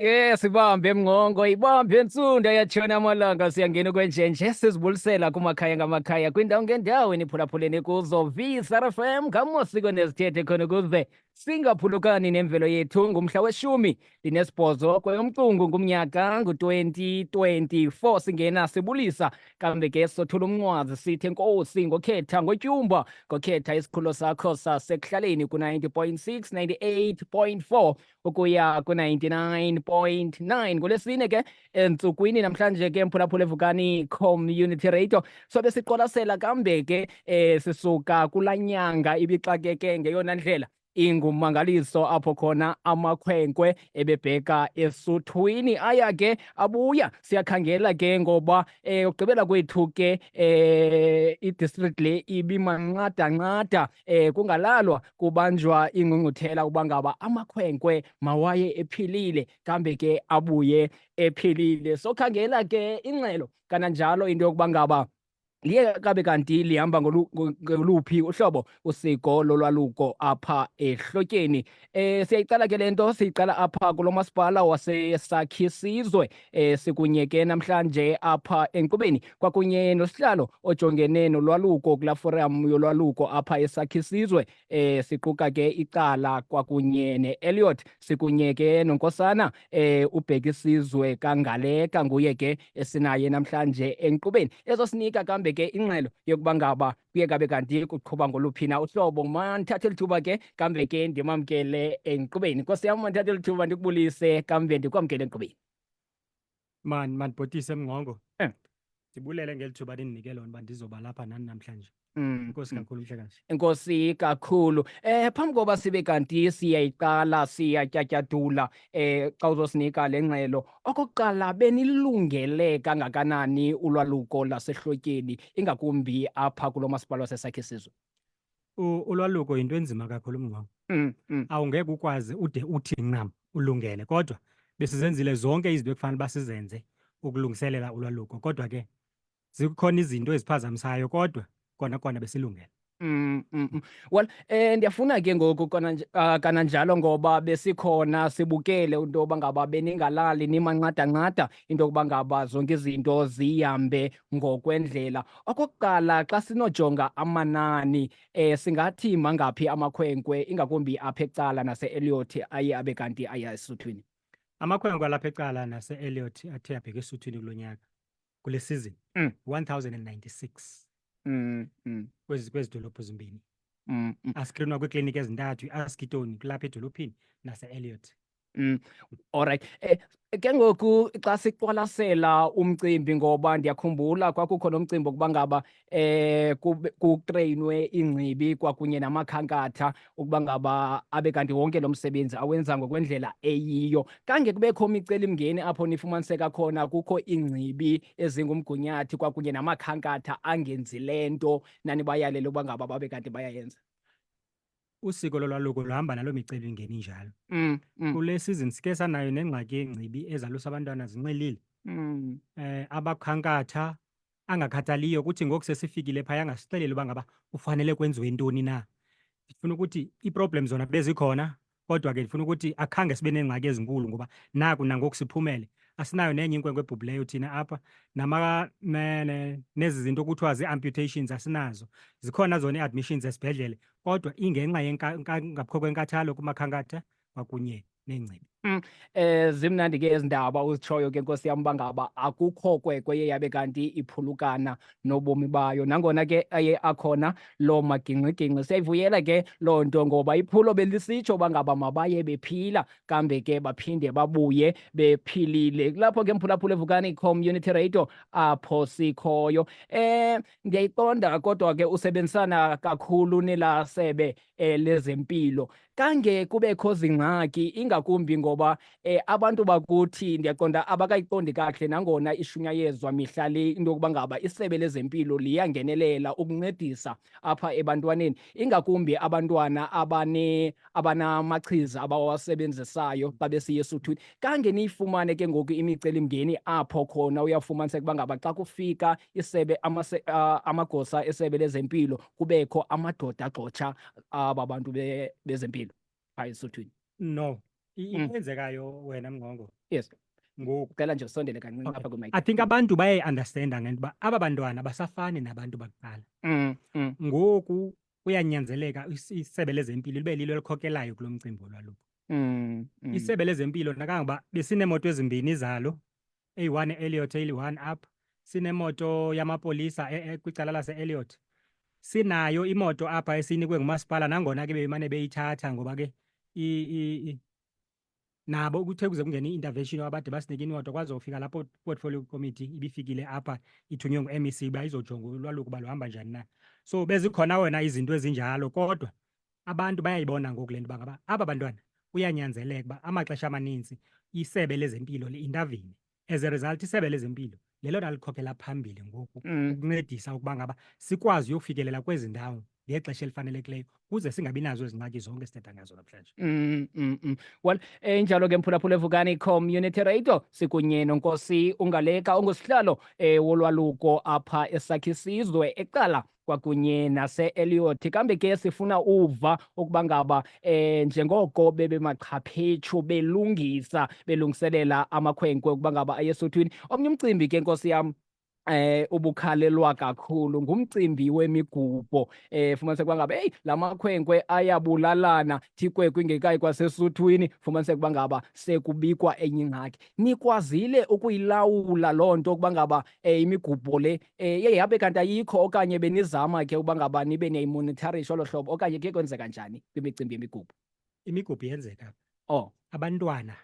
Yes, sibambe emngongo, ibambe entsunda yatshona amalanga siyangena ukwenjenje sizibulisela kumakhaya ngamakhaya kwindawo ngendawo eniphulaphuleni kuzo VSRFM ngamosiko nezithethe khona ukuze singaphulukani nemvelo yethu ngumhla weshumi ndinesibhozo kweyomcungu ngumnyaka ngu-2024 singena sibulisa kambe ke sothula umncwazi sithe nkosi ngokhetha ngotyumba ngokhetha isikhululo sakho sasekuhlaleni ku-90.6 98.4 ukuya ku-99.9 ngolwesine ke entsukwini namhlanje ke mphulaphula evukani community radio sobe siqwalasela kambe ke eh sisuka kula nyanga ibixakeke ngeyona ndlela ingumangaliso apho khona amakhwenkwe ebebheka esuthwini aya ke abuya siyakhangela ke ngoba eh ugqibela kwethu ke eh i-district le ibimanqadanqada eh kungalalwa kubanjwa ingqungquthela uba ngaba amakhwenkwe mawaye ephilile kambe ke abuye ephilile sokhangela ke ingxelo kananjalo into yokuba ngaba liye kabe kanti lihamba ngoluphi uhlobo usiko lolwaluko apha ehlotyeni Eh siyayiqala ke lento siyiqala apha kulo masipala wasesakhi sizwe eh sikunyeke namhlanje apha enkqubeni kwakunye nosihlalo ojongene nolwaluko kula forum yolwaluko apha esakhi sizwe eh siquka ke icala kwakunye neElliot sikunyeke nonkosana eh ubheka isizwe kangaleka nguye ke esinaye namhlanje enkqubeni ezosinika kambe ke ingxelo yokuba ngaba kuye kabe kanti kuqhuba ngoluphi na uhlobo mandithathe lithuba ke kambe ke ndimamkele enkqubeni nkosi yam mandithathe lithuba ndikubulise kambe ndikwamkele enkqubeni man mandibhotise mngqongo eh. ndibulele ngeli thuba ndindinike lona uba ndizoba lapha nani namhlanje Mm, Inkosi mm. kakhulu mhlekazi. Inkosi kakhulu. Eh phambi koba sibe kanti siyayiqala siyatyatyadula eh xa uzosinika lengxelo Okokuqala, benilungele kangakanani ulwaluko lasehlotyeni ingakumbi apha kulo masipala wasesakhe sizwe? Ulwaluko yinto enzima kakhulu mngqongo. Mm, mm. Awungeke ukwazi ude uthi ncam ulungele kodwa besizenzile zonke izinto ekufanele uba sizenze ukulungiselela ulwaluko kodwa ke zikhona izinto eziphazamisayo kodwa kona kona besilungele Mm, mm, mm. Well, eh ndiyafuna ke ngoku kona nj- ah, kananjalo ngoba besikhona sibukele into yoba ngaba beningalali nimancadanqada into yokuba ngaba zonke izinto zihambe ngokwendlela. Okokuqala xa sinojonga amanani eh singathi mangaphi amakhwenkwe ingakumbi apha ecala nase-Elliot aye abe kanti aya esuthwini. amakhwenkwe alapha ecala nase-eliot athe abheke esuthwini kulo nyaka kule season Mm. 1096 Mm, mm, kwezi kwezi dolophu zimbini mm, mm. askrinwa kwiikliniki ezintathu iaskitoni kulapha edolophini nase-eliot Alright. Eh, ke ngoku xa siqwalasela umcimbi ngoba ndiyakhumbula kwakukho nomcimbi wokuba ngaba eh kutreyinwe ingcibi kwakunye namakhankatha ukuba ngaba abe kanti wonke lo msebenzi awenza ngokwendlela eyiyo kange kubekho imicelimngeni apho nifumaniseka khona kukho ingcibi ezingumgunyathi kwakunye namakhankatha angenzi le nto nanibayalele ukuba ngaba babe kanti bayayenza usiko lolwaluko luhamba naloo micelimngeni njalo mm, mm. kule season sike sanayo nengxaki yengcibi ezalusa abantwana zinxilile mm. eh abakhankatha angakhathaliyo kuthi ngoku sesifikile phaya angasixeleli uba ngaba ufanele kwenziwe ntoni na ndifuna ukuthi iiproblem zona bezikhona kodwa ke ndifuna ukuthi akhange sibe neengxaki ezinkulu ngoba naku nangoku siphumele asinayo nenye inkwenkwe ebhubhileyo thina apha nama ne, ne, nezi zinto kuthiwa zii-amputations asinazo zikhona zona ii-admissions esibhedlele kodwa ingenxa ngapho kwenkathalo kumakhankatha kwakunye neengcibi um zimnandi ke ezi ndaba uzitshoyo ke nkosi yam uba ngaba akukho kwekwe ye yabe kanti iphulukana nobomi bayo nangona ke aye akhona loo magingxigingxi siyayivuyela ke loo nto ngoba iphulo belisitsho uba ngaba mabaye bephila kambe ke baphinde babuye bephilile kulapho ke mphulaphula evukani community radio apho sikhoyo um ndiyayiqonda kodwa ke usebenzisana kakhulu nelasebe eh, lezempilo kange kubekho zingxaki ingakumbi ngoba eh, abantu bakuthi ndiyaqonda abakayiqondi kakuhle nangona ishunyayezwa mihla le into yokuba ngaba isebe lezempilo liyangenelela ukuncedisa apha ebantwaneni ingakumbi abantwana abane abanamachiza abawasebenzisayo xa besiya esuthwini kange niyifumane ke ngoku imicelimngeni apho khona uyafumaniseka uba ngaba xa kufika isebe amagosa esebe lezempilo kubekho amadoda agxotsha aba bantu bezempilo phaa esuthwini no mm. ikwenzekayo wena mngqongo yes ngoku cela nje usondele kancinci apha kwimike i think abantu bayayiunderstanda ngento uba aba bantwana basafani nabantu bakuqala mm, mm. ngoku kuyanyanzeleka is- isebe lezempilo libe lilo elikhokelayo kulo mcimbi wolwaluko Mm, mm. isebe lezempilo nakangoba besineemoto ezimbini zalo eyi-one e-eliot eyi-one up sinemoto yamapolisa e- e- kwicala lase-eliot sinayo imoto apha esiyinikwe ngumasipala nangona ke bebemane beyithatha ngoba ke i- i- i- nabo kuthe kuze kungene i-intervention abade basinike inwato kwaze ufika lapho portfolio committee ibifikile apha ithunywe ngu-mec uba izojonga ulwaluko uba luhamba njani na so bezikhona wena izinto ezinjalo kodwa abantu bayayibona ngoku le nto uba ngaba aba bantwana kuyanyanzeleka uba amaxesha amaninzi isebe lezempilo li-intavine as a result isebe lezempilo lelona likhokhela phambili ngoku mm. ukuncedisa ukuba ngaba sikwazi uyofikelela kwezi ndawo ngexesha elifanelekileyo kuze singabi nazo ezingxaki zonke esithetha ngazo namhlanje mm, mm, mm. well enjalo eh, ke mphulaphula evukani community radio sikunye nonkosi ungaleka ungusihlalo um wolwaluko apha esakhisizwe eqala kwakunye nase-eliyoti kambe ke sifuna uva ukuba ngaba eh njengoko bebemaxhaphetshu belungisa belungiselela amakhwenkwe ukuba ngaba ayesuthwini omnye umcimbi ke nkosi yam eh ubukhalelwa kakhulu ngumcimbi wemigubho eh fumaniseka ukuba ngaba eyi la makhwenkwe ayabulalana thikwe kwingekayi kwasesuthwini fumaniseka ukuba ngaba sekubikwa enye ingxaki nikwazile ukuyilawula loo nto ukuba ngaba um imigubho le eh iye yabe kanti ayikho okanye benizama ke uba ngaba nibe niyayimonitharisha olo hlobo okanye kuye kwenzeka njani kwimicimbi yemigubho imigubho yenzeka oh abantwana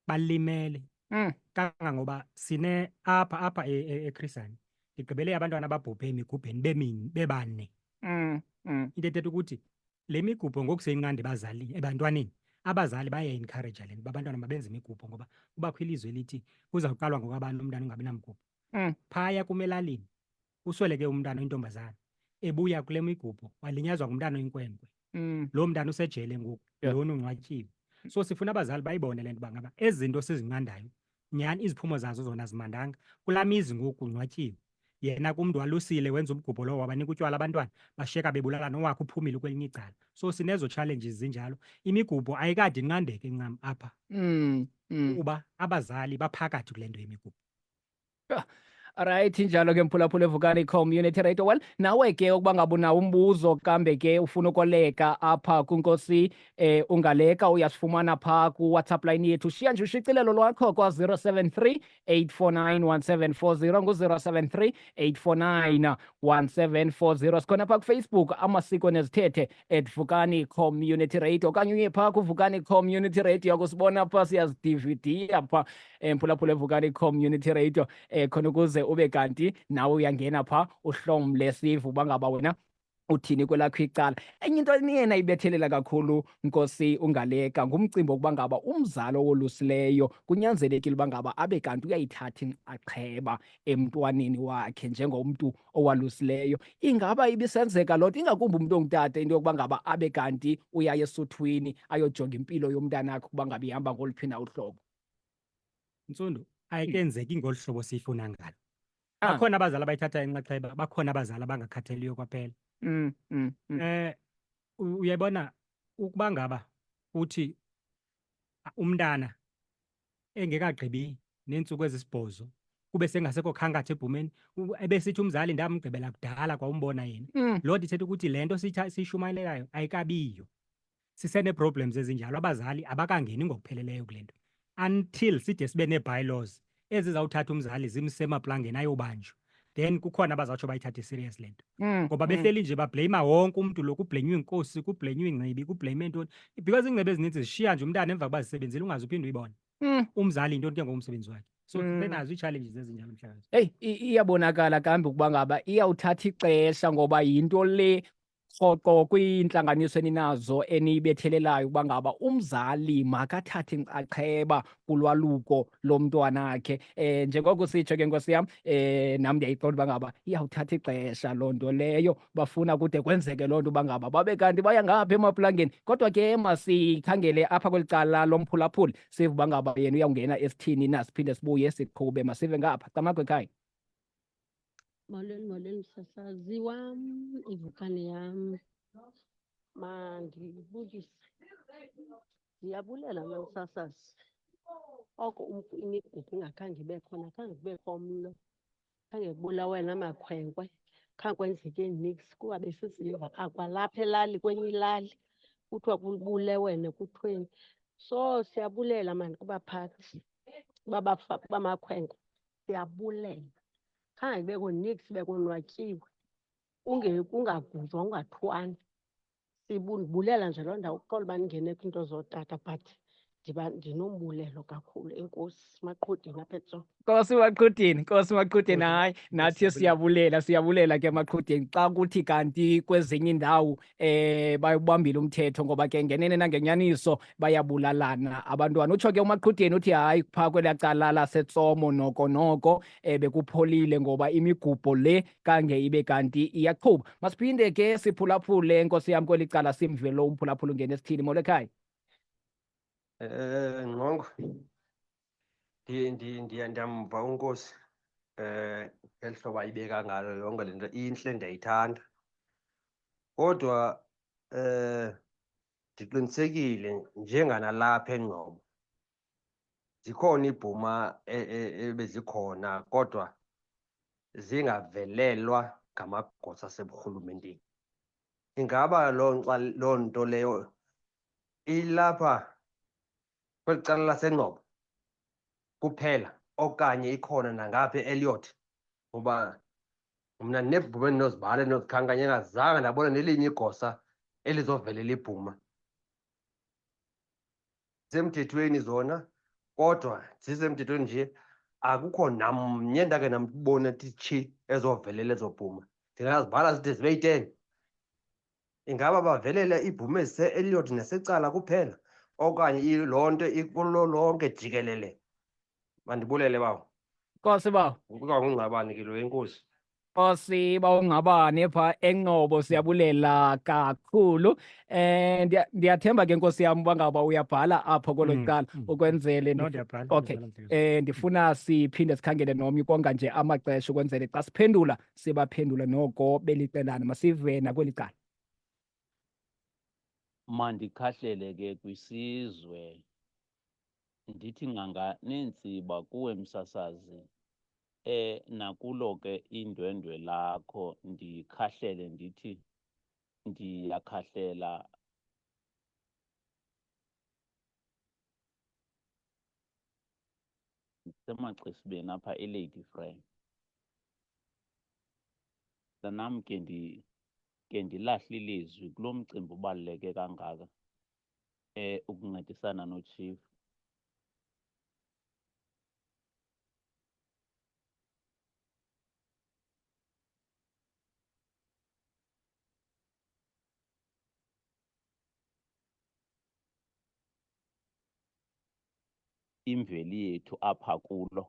balimele mm. kangangoba sine apha apha echristian e, e, ndigqibele abantwana ababhubhe emigubheni bemini bebane mm. mm. into ethetha ukuthi le migubho ngoku seyincandi ebazalini ebantwaneni abazali bayayi-encouraja le nto uba abantwana mabenze imigubho ngoba kubakho ilizwe elithi kuzawuqalwa ngokwabani umntana ungabi namgubho Mm. phaya kum elalini usweleke umntana oyintombazana ebuya kule migubho walinyazwa ngumntana oyinkwenkwe Mm. loo mntana usejele ngoku Yeah. lona ungcwatyiwe so sifuna abazali bayibone le nto uba ngaba ezi zinto sizinqandayo nyhani iziphumo zazo zona zimandanga kulaa mizi ngoku kungcwatyiwe yena kumntu walusile wenza umgubho lowo wabanika utywala abantwana bashiyeka bebulala nowakhe uphumile kwelinye icala so sinezo challenges zinjalo imigubho ayikade inqandeke ncam apha Mm. Mm. kuba abazali baphakathi kule nto yemigubho Right njalo ke mphulaphula evukani community radio well nawe ke ukuba ngaba unawo umbuzo kambe ke ufuna ukoleka apha kunkosi eh ungaleka uyasifumana pha ku WhatsApp line yethu shiya nje ushicilelo lwakho kwa 073 8491740 ngu 073 8491740 sikhona pha ku Facebook amasiko nezithethe at vukani community radio okanye uye pha ku vukani community radio kusibona pha siyazidividiya pha emphulaphula evukani community radio eh khona ukuze ube kanti nawe uyangena pha uhlomle sivu bangaba wena uthini kwelakho icala enye into eniyena ibethelela kakhulu nkosi ungaleka ngumcimbi wokuba ngaba umzali owolusileyo kunyanzelekile uba ngaba abe kanti uyayithatha inxaxheba emntwaneni wakhe njengomntu owalusileyo ingaba ibisenzeka loo nto ingakumbi umntu ongutata into yokuba ngaba abe kanti uyaya esuthwini ayojonga impilo yomntanakhe ukuba ngaba ihamba ngoluphi na uhlobo Ntsundu, ayikenzeki ngolu hlobo siyifuna ngalo. Ah. Bakhona abazali abayithatha inxaxheba, bakhona abazali abangakhatheliyo kwaphela. Mm, mm, mm. Eh u- uyayibona ukuba ngaba uthi a- umntana engekagqibi neentsuku ezisibhozo kube sengasekho khankatha ebhumeni u- ebesithi umzali ndamgqibela kudala kwawumbona yena. Mm. Loo nto ithetha ukuthi le nto siyitha- siyishumayelelayo ayikabiyo. sisenee-problems ezinjalo abazali abakangeni ngokupheleleyo kule nto until side sibe nee-bylaws ezizawuthatha umzali zimse emaplangeni ayobanjwa then kukhona abazawutsho bayithathe serious le nto mm, ngoba mm. behleli nje babhleyima wonke umntu lo kubhlenywa inkosi kubhlenywa ingcibi kubhlenywa intoni because ingcibi ezininzi zishiya nje umntana emva kuba zisebenzile ungazi uphinde uyibone mm. umzali yintoni ke ngokumsebenzi wakhe so mm. benazo ii-challenges ezinjalo mhlakazi eyi iyabonakala kambi ukuba ngaba iyawuthatha ixesha ngoba yinto le rhoqo kwiintlanganiso eninazo eniyibethelelayo ukuba ngaba umzali makathathe inxaxheba kulwaluko lomntwana akhe um njengoko sitsho ke nkosi yam um nam ndiyayiqonda uba ngaba iyawuthatha ixesha loo nto leyo bafuna kude kwenzeke loo nto uba ngaba babe kanti baya ngapha emaplangeni kodwa ke masikhangele apha kweli cala lomphulaphuli sive uba ngaba yena uyawungena esithini na siphinde sibuye siqhube masive ngapha camakhwekhaya Molweni, molweni msasazi wam, ivukane yam. Mandibulise. Ndiyabulela mna msasazi. Oko umntu imigudu ingakhange ibe khona, khange kubekho mlo, khange kubulawe namakhwenkwe, khange kwenzeke niks kuba besiziva akwalapha elali kwenye ilali kuthiwa kubulewene kuthweni. So siyabulela maan kubaphathi, kuba bafa- kuba makhwenkwe. siyabulela khange kubekho nix sibe konwatyiwe kunge- kungaguzwa kungathwani sibulela nje loo ndawo kuxola uba ndingene kwiinto zootata but ndiba ndinombulelo kakhulu enkosi maqhudini apha etso Nkosi maqhudini, Nkosi maqhudini, Nkosi, hayi nathi siyabulela. siyabulela siyabulela ke maqhudini xa kuthi kanti kwezinye iindawo eh bayubambile umthetho ngoba ke ngenene nangenyaniso bayabulalana abantwana utsho ke umaqhudeni uthi hayi phaa kwelaa cala lasetsomo noko noko eh bekupholile ngoba imigubho le kange ibe kanti iyaqhuba masiphinde ke siphulaphule nkosi yam kweli cala simve lo umphulaphula ungene esithini molekhaya eh nqongo ndiye ndiye ndiye ndiyamva unkosi um ngeli hlobo ayibeka ngalo yonke le nto intle ndiyayithanda kodwa um ndiqinisekile njenganalapha engcobo zikhona iibhuma e, e, ebezikhona kodwa zingavelelwa ngamagosa aseburhulumenteni ingaba loo loo nto leyo ilapha kweli cala lasengcobo kuphela okanye ikhona nangaphi eliyothi ngoba mna ndinebhuma endinozibhala endinozikhankanya engazange ndabona nelinye igosa elizovele libhuma zisemthethweni zona kodwa zisemthethweni nje akukho namnye ndake ndambona titshi ezovelela ezobhuma ndingazibhala zide zibe yi-ten Ingaba bavelela ibhume se-Elliot nesecala kuphela okanye loo nto ikulo lonke jikelele? Mandibulele bawo. Nkosi bawo. Kuba ngungqabani ke lo enkosi. Nkosi bawungabane pha enqobo siyabulela kakhulu eh ndiyathemba ke nkosi yam bangaba uyabhala apho kolo mm, cala mm. ukwenzele okay eh ndifuna siphinde sikhangele nomnye konga nje amaxesha ukwenzele xa siphendula sibaphendule noko belicelana masive nakweli cala mandikhahlele ke kwisizwe ndithi nganga neentsiba kuwe msasazi eh nakulo ke indwendwe lakho ndikhahlele ndithi ndiyakhahlela semaxesibeni apha elady frame Mntanam ke ndi ke ndilahle ilizwi kulo mcimbi ubaluleke kangaka eh ukuncedisana nochief imveli yethu apha kulo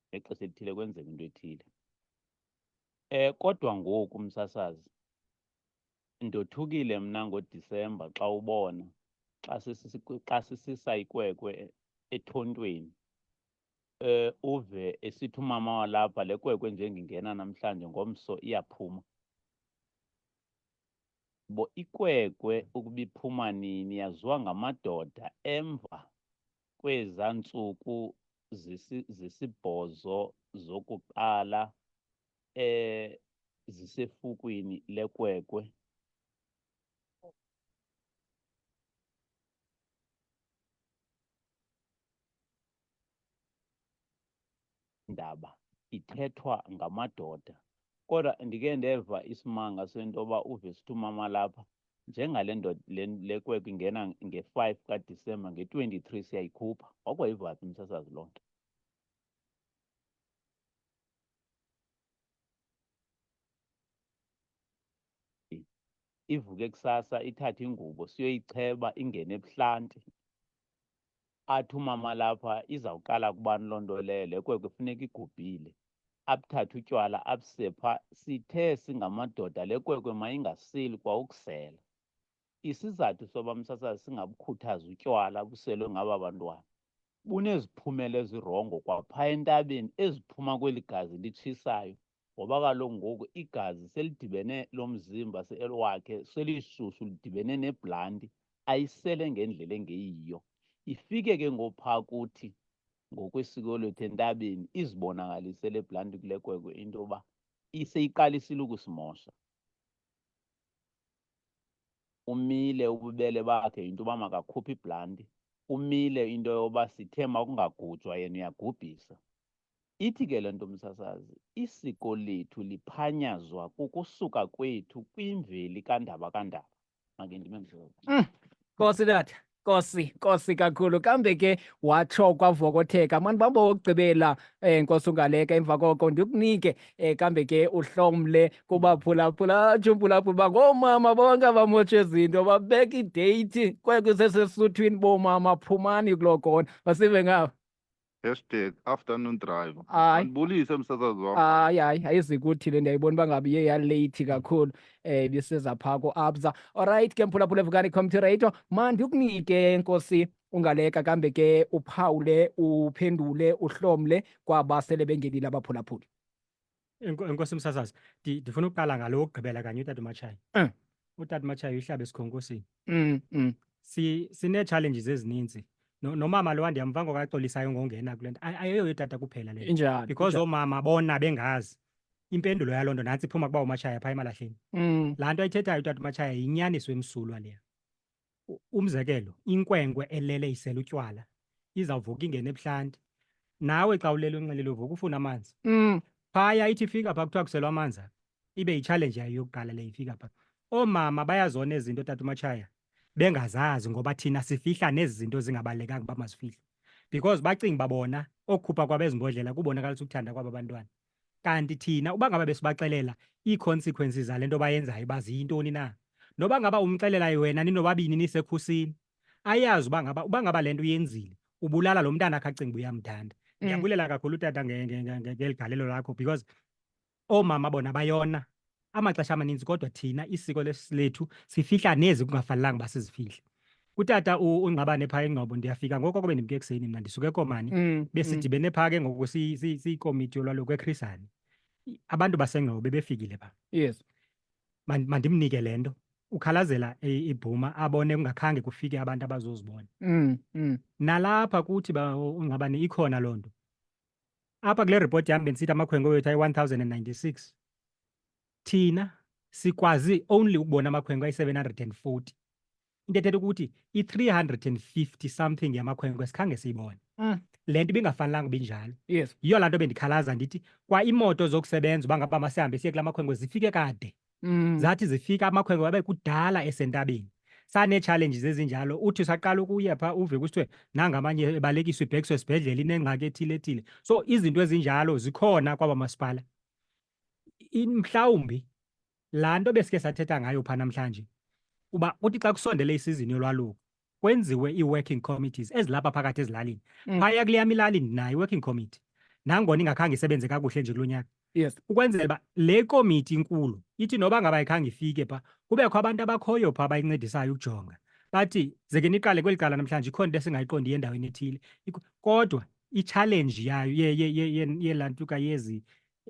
ngexesha elithile kwenzeka into ethile eh kodwa ngoku msasazi ndothukile mna ngodisemba xa ubona xa xa sisisa ikwekwe ethontweni eh uve esithi umama walapha le kwekwe nje ngingena namhlanje ngomso iyaphuma bo ikwekwe ukuba iphuma nini yaziwa ngamadoda emva kweza ntsuku zisibhozo zokuqala eh zisefukwini lekwekwe ndaba ithethwa ngamadoda kodwa ndike ndeva isimanga sento yoba uve sithi umama lapha njengale ndoda le kwekwe ingena nge-five kadisemba nge-twenty-three siyayikhupha wakwayivaphi msasazi loo nto ivuke kusasa ithathe ingubo siyoyicheba ingene ebuhlanti athi umama lapha izawuqala kubani loo nto leyo le kwekwe funeka igubhile abuthathe utywala abuse pha sithe singamadoda le kwekwe mayingasili kwa ukusela isizathu soba msasazi singabukhuthazi utywala buselwe ngaba bantwana buneziphumela ezirongo kwapha entabeni eziphuma kweli gazi litshisayo ngoba kaloku ngoku igazi selidibene lo mzimba wakhe selisusu lidibene nebhlanti ayisele ngendlela engeyiyo ifike ke ngopha kuthi ngokwesiko lethu entabeni izibonakalise le bhlanti kule kwekwe into yoba iseyiqalisile ukusimosha umile ububele bakhe yinto uba makakhuphe ibhlanti umile into yoba sithe makungagujwa yena uyagubhisa Ithi ke le nto msasazi, isiko lethu liphanyazwa kukusuka kwethu kwimveli kandaba kandaba. Make ndime mhlobo. Mm. Nkosi tata. Nkosi, Nkosi kakhulu. Kambe ke watsho kwavokotheka. Mani bamba wokugqibela eh Nkosi ungaleka emva koko ndikunike eh kambe ke uhlomle kubaphulaphula atshumpulaphula ba ngoomama bonke abamotshe izinto babeka ideyithi kwekusesesisuthwini boomama phumani kuloo kona. Basive ngabo. hashtag afternoon driver Hayi. andibulise msasazi wam hayi hayi ayizi kuthi le ndiyayibona uba ngabe iye yaleyithi kakhulu um ibiseza phaa koabsa olrayithi ke mphulaphula evukani comtirator mandi ukunike nkosi ungaleka kambe ke uphawule uphendule uhlomle kwaba sele bengenile abaphulaphuli Enko- Enkosi Msasazi, ndi- ndifuna ukuqala ngalo wokugqibela kanye utata uMatshayi. Eh. Utata uMatshayi uyihlaba esikhonkosini. Mm, mm. Si sinee-challenges ezininzi. No- Nomama lowa ndiyamva ngoku axolisayo ngongena kule nto. Ay- Ayiyo yotata kuphela le. nto. Injani? Because injani? oomama bona bengazi. Impendulo yaloo nto nantsi iphuma kuba uMatshayi apha emalahleni. Mm, Laa nto ayithethayo utata uMatshayi yinyaniso emsulwa leya. U- Umzekelo, inkwenkwe elele isela utywala izawuvuka ingene ebuhlanti. Nawe xa ulele unxilile uvuka ufuna amanzi. Mm. Phaya ithi ifika pha kuthiwa kuselwa amanzi apha. Ibe yitshalenji yayo yokuqala le ifika pha. Oomama bayazona ezi zinto tata umatshaya bengazazi ngoba thina sifihla nezi zinto zingabalulekanga uba mazifihlwe. Because bacinga uba bona okukhupha kwabo ezi mbodlela kubonakalisa ukuthanda kwaba bantwana. Kanti thina uba ngaba besibaxelela ii-consequences zale nto bayenzayo uba ziyintoni na? Noba ngaba umxelela wena ninobabini nisekhusini, ayazi uba ngaba uba ngaba le nto uyenzile ubulala lo mntana akhe acinga uba uyamthanda. Mm. Ndiyabulela kakhulu utata nge- nge- nge- nge- ngeli galelo lakho because oomama bona bayona amaxesha amaninzi kodwa thina isiko lethu sifihla nezi kungafanelanga uba sizifihle utata ungqabane phaa engqobo ndiyafika ngoko kube ndimke ekuseni mna ndisuke komani mm, mm. besidibene phaa ke ngoku siyikomiti yolwaluko ekhrisani abantu basengqobo bebefikile phaa yes mandimnike le nto ukhalazela ibhuma abone kungakhange kufike abantu abazozibona mm, nalapha kuthi ungqabane ikhona loo nto apha kule ripoti yam bendisithi amakhwenkwe wethu ayi-1096 thina sikwazi only ukubona amakhwenkwe ayi-740 into ethetha ukuthi i-350 something yamakhwenkwe sikhange siyibone mm. le nto ibingafanelanga uba injalo yes yiyo laa nto bendikhalaza ndithi kwa imoto zokusebenza uba ngaba masihambe siye kula makhwenkwe zifike kade Mm. Zathi zifika amakhwenkwe wabe kudala esentabeni. Sane-challenges ezinjalo uthi usaqala ukuya phaa uve kusithiwe nanga amanye ebalekiswa ibhekiswe esibhedlele inengxaki ethile ethile. So izinto ezinjalo zikhona kwaba masipala. In- Mhlawumbi laa nto besike sathetha ngayo phaa namhlanje uba kuthi xa kusondele isizini yolwaluko kwenziwe ii-working committees ezilapha phakathi ezilalini mm. phaya kule yam ilali ndinayo i-working committee nangona ingakhange isebenze kakuhle nje kulo nyaka yes ukwenzela uba le komiti inkulu ithi noba ngaba ikhange ifike pha kubekho abantu abakhoyo pha abayincedisayo ukujonga bathi zeke niqale kweli cala namhlanje ikhona into esingayiqondi endaweni ethile kodwa itshalenji yayo yelantuka yezi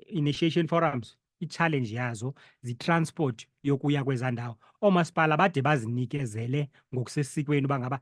initiation forums i-challenge yazo zitransport yokuya kwezaa ndawo oomasipala bade bazinikezele ngokusesikweni uba ngaba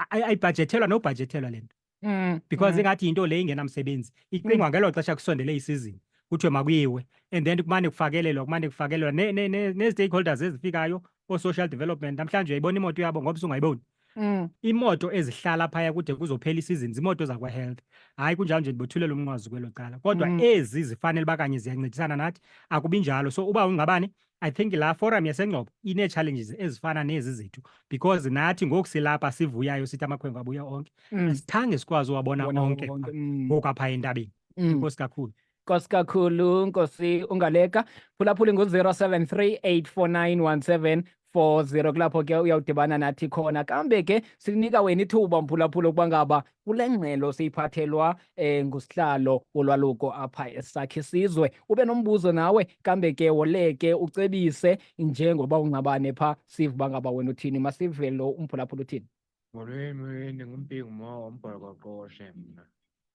ayibhajethelwa nobhajethelwa le nto mm, because mm. ingathi yinto le ingenamsebenzi icingwa mm. ngelo xesha kusondele isizini kuthiwe makuyiwe and then kumane kufakelelwa kumane kufakelelwa nee-stakeholders ezifikayo oo-social development namhlanje uyayibona imoto yabo ngoba sungayiboni Mm. Imoto ezihlala phaya kude kuzophela isizini zimoto zakwa-health. Hayi kunjalo nje ndibothulela umnqwazi kwelo cala. Kodwa Mm. ezi zifanele uba kanye ziyancedisana nathi akubi njalo. So uba ungabani I think la forum yasengcobo inee-challenges ezifana nezi zethu because nathi ngoku silapha sivuyayo sithi amakhwenkwe abuya onke Mm. asithange sikwazi uwabona Wona onke wonke, pha mm. ngoku apha entabeni. Mm. enkosi kakhulu nkosi kakhulu nkosi ungaleka phulaphula ingu-073 849 40 kulapho ke uyawudibana nathi khona kambe ke sinika wena ithuba mphulaphula ukuba ngaba kule ngxelo siyiphathelwa eh ngusihlalo wolwaluko apha esakhe sizwe ube nombuzo nawe kambe ke woleke ucebise njengoba ungcabane pha siva uba ngaba wena uthini masive lo umphulaphula uthini Molweni, ndingumpingu mwa wombhokoqoshe mna.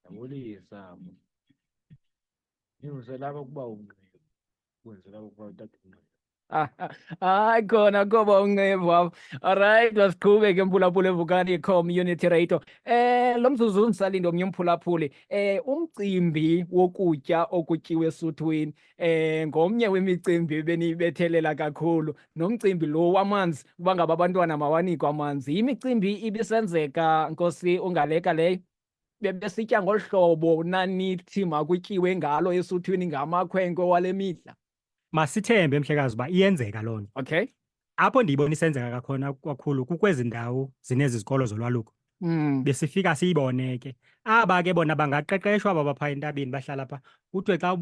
Ndabulisa mna. Ndinguzela apha ukuba ungqiba. Kungenzela ukuba utata ungqiba. hayi khona koba uncevu apho olrayithi masiqhube ke mphulaphula evukani community radio eh lo mzuzu undisalinde omnye umphulaphuli eh umcimbi wokutya okutyiwa esuthwini eh ngomnye wemicimbi ebeniyibethelela kakhulu nomcimbi lo wamanzi uba ngaba abantwana mawanikwe amanzi yimicimbi ibisenzeka nkosi ungaleka leyo bebesitya ngolu hlobo nanithi makutyiwe ngalo esuthwini ngamakhwenkwe wale mihla masithembe mhlekazi uba iyenzeka loo nto okay apho ndiyibona isenzeka kakhona kakhulu kukwezi ndawo zinezi zikolo zolwaluko mm. besifika siyibone ke aba ke bona bangaqeqeshwa aba bapha entabeni bahlala pha kuthiwe xa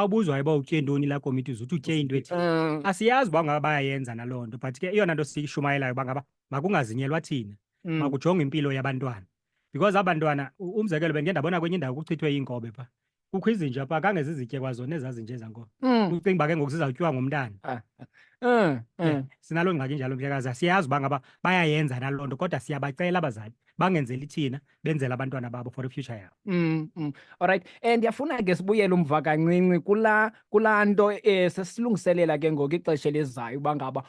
ubuzwayo uba utye ntoni laa komiti uze uthi utye into ethi mm. asiyazi uba ngaba bayayenza naloo nto but ke eyona nto siyishumayelayo uba ngaba makungazinyelwa thina mm. makujonge impilo yabantwana because aba ntwana u- umzekelo bendike ndabona kwenye indawo kuchithwe iinkobe pha kukho izinja pha kange zizitye kwazona ezazinje zankobe Mm, ucinga uba ke ngoku zizawutyiwa ngumntana mm, Yeah, mm. sinaloo ngxaki njalo mhlekazi asiyazi uba ngaba bayayenza naloo nto kodwa siyabacela abazali bangenzeli thina benzela abantwana babo for ifuture yabo Mm, mm. Alright. Eh ndiyafuna ke sibuyele umva kancinci kula kula nto eh sesilungiselela ke ngoku ixesha elizayo uba ngaba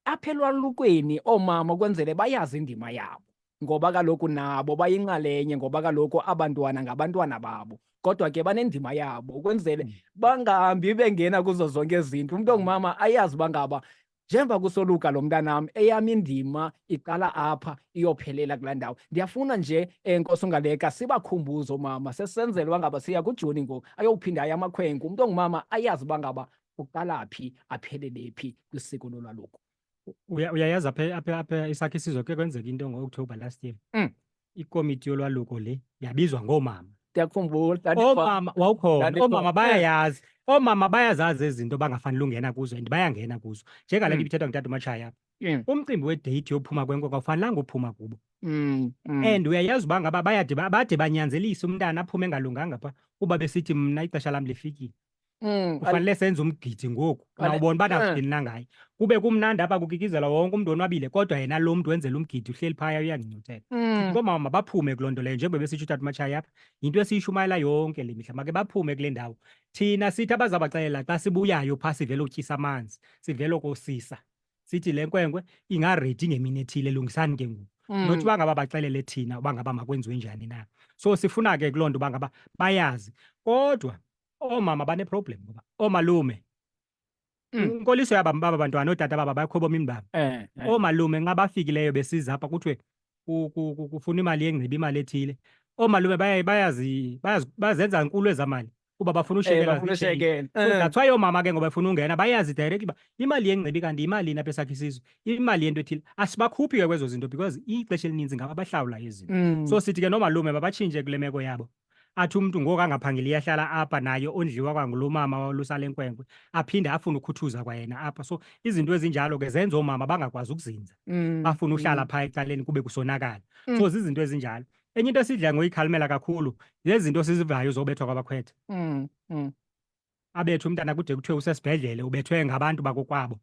apha elwalukweni oomama kwenzele bayazi indima yabo ngoba kaloku nabo bayinxalenye ngoba kaloku abantwana ngabantwana babo kodwa ke banendima yabo ukwenzele hmm. bangahambi bengena kuzo zonke izinto umntu ongumama ayazi uba ngaba njengoba kusoluka lo mntanam eyam indima iqala apha iyophelela kulaa ndawo ndiyafuna nje um nkosi ungaleka sibakhumbuze omama sesenzela uba ngaba siya kujuni ngoku ayowuphinda aye amakhwenkwe umntu ongumama ayazi uba ngaba uqala phi aphelele phi kwisiko lolwaluko uyayazi apha apha apha isakhe isizwe ke kwenzeka into ngo-october last year mm. ikomiti yolwaluko le yabizwa ngoomama ndiyakhumbula oomama wawukhona oomama bayayazi oomama bayazazi ezinto bangafanele ungena kuzo and bayangena kuzo njengale nto mm. ibithethwa ngutata umatshaya mm. umcimbi wedeyithi yophuma kwenkoko awufanelanga uphuma kubo mm, and uyayazi uba ngaba bade banyanzelise umntana aphume engalunganga pha kuba besithi mna ixesha lam lifikile Mm, ufanele senze umgidi ngoku nawubona uba nakudini na ngaye kube kumnandi apha kukikizela wonke umntu onwabile kodwa yena lo mntu wenzela umgidi uhleli phaya uyandincotela mm. koomama mabaphume kuloo nto leyo njengoba besitsho utata umatshaya apha yinto esiyishumayela yonke le mihla make baphume kule ndawo thina sithi abazabaxelela xa sibuyayo phaa sivele utyisa amanzi sivele okosisa sithi le nkwenkwe ingaredi ngemini ethile lungisani ke ngoku mm. nothi uba ngaba baxelele thina uba ngaba makwenziwe njani na so sifuna ke kuloo nto uba ngaba bayazi kodwa oomama baneproblem ngoba oomalume mm. inkoliso yaba baba bantwana ootata baba bakhwebo mini baba eh, eh. oomalume nxa bafikileyo besiza apha kuthiwe kufuna imali yengcibi imali ethile oomalume bazenza nkulu ezamali kuba bafuna ushekelaathwayo eh. oomama ke ngoba befuna ungena bayazi direct uba imali yengcibi kanti yimalini apha esakhe isizwe imali yento ethile asibakhuphi ke kwezo zinto because ixesha elininzi ngaba bahlawulayo izinto mm. so sithi ke noomalume babatshintshe kule meko yabo athi umntu ngoku angaphangeli iyahlala apha naye ondliwa kwangulo mama walusale nkwenkwe aphinde afune ukhuthuza kwayena apha so izinto ezinjalo ke zenza oomama bangakwazi ukuzinza mm, bafune uhlala mm. phaa ecaleni kube kusonakala mm. so zizinto ezinjalo enye into esidla ngoyikhalimela kakhulu zezinto sizivayo zobethwa kwabakhwetha mm, mm. abethe umntana kude kuthiwe usesibhedlele ubethwe ngabantu bakokwabo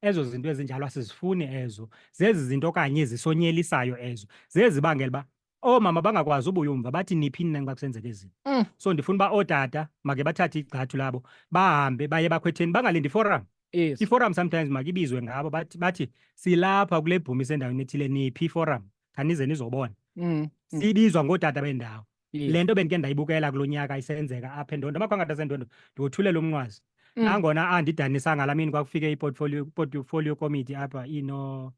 ezo zinto ezinjalo asizifuni ezo zezi zinto okanye zisonyelisayo ezo zezibangela uba oomama bangakwazi ubuya umva bathi niphi nina xa kusenzeka izinto mm. so ndifuna uba ootata make bathathe igxathu labo bahambe baye bakhwetheni bangalindi forum yes. iforum sometimes makibizwe ngabo bathi, bathi silapha kule bhumi sendaweni ethile niphi iforum khanize nizobona mm. mm. sibizwa ngootata bendawo le nto bendike ndayibukela kulo nyaka isenzeka apha endondo amakhwangatha asendondo ndiwothulela umnqwazi mm. nangona andidanisanga la mini kwakufike iportfolio committee apha ino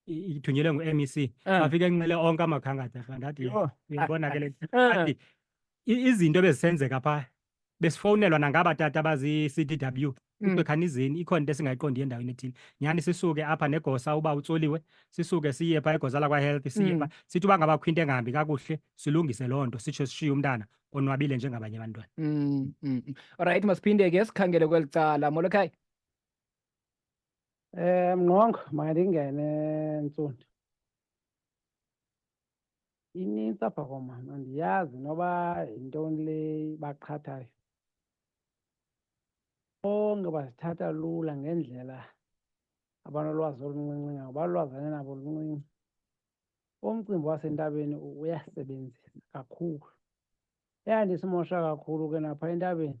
ithunyelwe ngu-mec ah. afike enxele onke amakhangatha ndathi yibona ke le ah. izinto ebezisenzeka phaa besifowunelwa nangaba tata abazi-CDW mm. kuthiwe khanizini ikhona into esingayiqondiyo endaweni ethile nyhani sisuke apha negosa uba utsoliwe sisuke siye pha egosa lakwahealth siye mm. pha sithi uba ngabakho into engahambi kakuhle silungise loo nto sitsho sishiye umntana onwabile njengabanye abantwana mm, mm. olrayithi masiphinde ke sikhangele kweli cala molokhaya um eh, mnqongo mandingene ntsundu inintsi apha komama andiyazi noba yintoni le baqhathayo bonke bazithatha lula ngendlela abanolwazi oluncinci ngabo balulwazane nabo oluncinci umcimbi wasentabeni uyasebenzisa kakhulu eyandisimosha kakhulu ke napha entabeni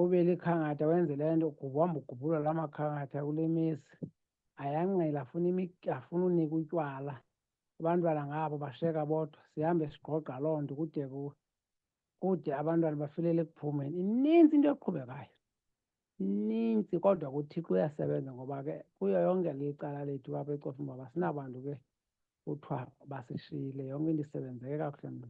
ubile ikhankatha wenze le nto uhamba ugubhula la makhankatha kule mesi ayangqela afuna afuna unika utywala abantwana ngabo basheka bodwa sihambe sigqogqa loo nto kude kude abantwana bafilele ekuphumeni ininzi into eqhubekayo ininzi kodwa kuthixo uyasebenza ngoba ke kuyo yonke le icala lethu apha ecofa uba basinabantu ke kuthiwa basishiyile yonke into isebenzeke kakuhle mna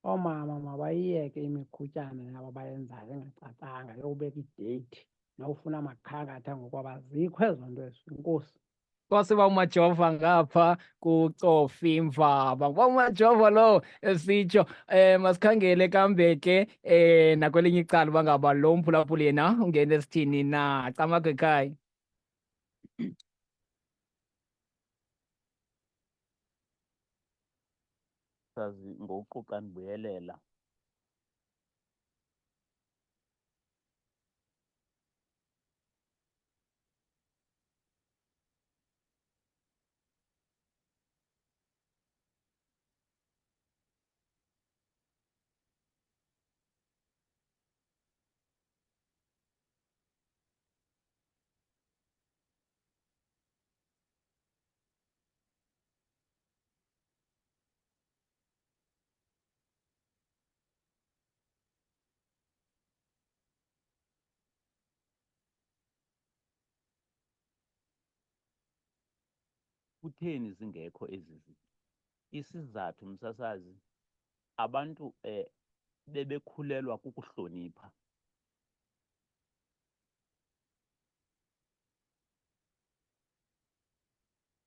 oomama mabayiyeke imiqhutyana yabo bayenzayo engacacanga yokubeka ideyithi nokufuna amakhankatha ngokuba bazikho ezo nto ezo inkosi kwasiba umajova ngapha kucofi mvaba ngoba umajova lo esitsho eh masikhangele kambe ke eh nakwelinye icala uba ngaba lo mphulaphuli yena ungena esithini na camago ekhaya sazi ngokuquqa ndibuyelela Kutheni zingekho ezi zinto? Isizathu msasazi, abantu eh, bebekhulelwa kukuhlonipha.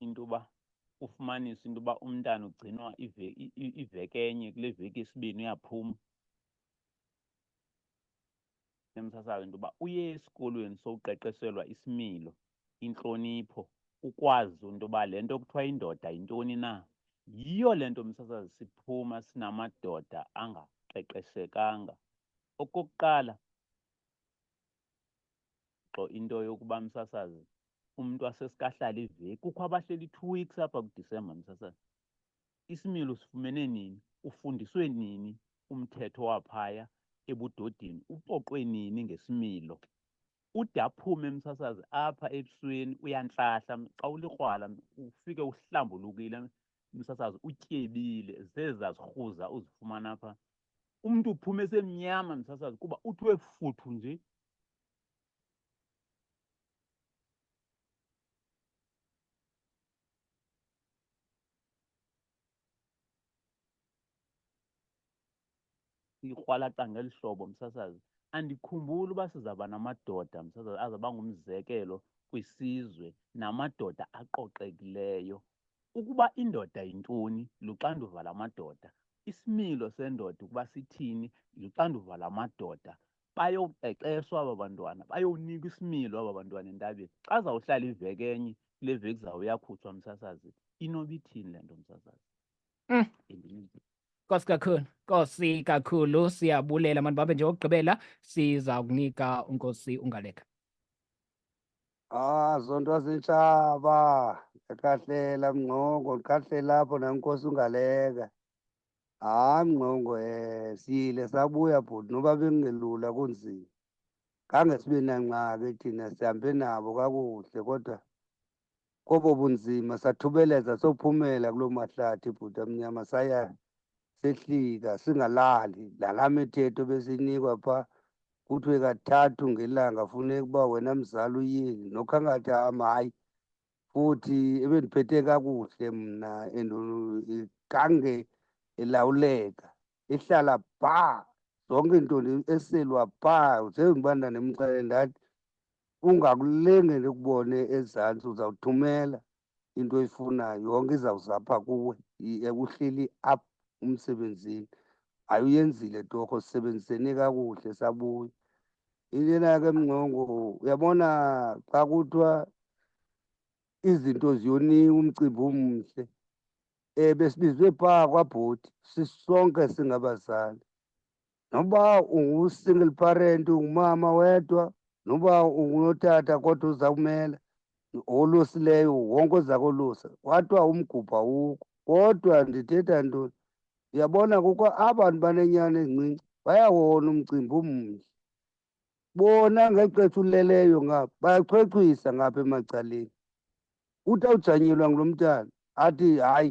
into yoba ufumanise into yoba umntana ugcinwa iveki enye kule veki isibini uyaphuma emsasayo into yoba uye esikolweni sokuqeqeselwa isimilo intlonipho ukwazi into yoba le nto kuthiwa indoda yintoni na yiyo le nto msasazi siphuma sinamadoda angaqeqeshekanga Okokuqala, gxo into yokuba msasazi umntu asesikahlala iveki kukho abahleli two weeks apha kudisemba msasazi isimilo sifumene nini ufundiswe nini umthetho waphaya ebudodini upoqwe nini ngesimilo ude aphume msasazi apha ebusweni uyantlahla xa ulikrwala ufike uhlambulukile msasazi utyebile zezazirhuza uzifumana apha umntu uphuma esemnyama msasazi kuba uthiwe futhu nje ikrwalaqa ngeli hlobo msasazi andikhumbuli uba sizaba namadoda msasazi azaba ngumzekelo kwisizwe namadoda aqoqekileyo Ukuba indoda yintoni, luxanduva lamadoda. Isimilo sendoda ukuba sithini, luxanduva lamadoda. Bayoqeqeshwa aba bantwana, bayowunikwa isimilo aba bantwana entabeni. Xa zawuhlala iveki enye, kule veki zawo uyakhutshwa msasazi. Inoba ithini le nto msasazi? Mm. Nkosi kakhulu, Nkosi kakhulu, siyabulela mani babe nje okugqibela siza kunika uNkosi ungaleka. Ah, zonto zintshaba. Ndikahlela mngqongo, ndikahlela apho nankosi ungaleka. Hayi mngqongo eh siyile sabuya bhuti noba bekungelula kunzima. Khange sibe nangxaki thina sihambe nabo kakuhle kodwa kobo bunzima sathubeleza sophumela kuloo mahlathi bhuti amnyama saya sehlika singalali nalaa mithetho besiyinikwa phaa kuthiwe kathathu ngelanga funeka uba wena mzali uyini nokhangathi am hayi futhi ebendiphethe kakuhle mna and igange elawuleka ihlala bhaa zonke into eselwa bhaa njengoba ndandimxele ndathi ungakulengele ukubone ezantsi uzawuthumela into oyifunayo yonke izawuza apha kuwe uhleli up umsebenzini hayi uyenzile torho sisebenzisene kakuhle sabuya intena ke mngcongo uyabona xa kuthiwa izinto ziyoniwa umcimbi omhle um besibizwe phaa kwabhoti sisonke singabazali noba ungu-single parent ungumama wedwa noba ungutata kodwa uza kumela olusileyo wonke oza kolusa kwathiwa umgubha wukho kodwa ndithetha ntoni ndiyabona kukho abantu banenyana ezincinci bayawona umcimbi umnye bona ngexesha uleleyo ngapha bayachwechwisa ngapha emacaleni uthi awujanyelwa ngulo mntana athi hayi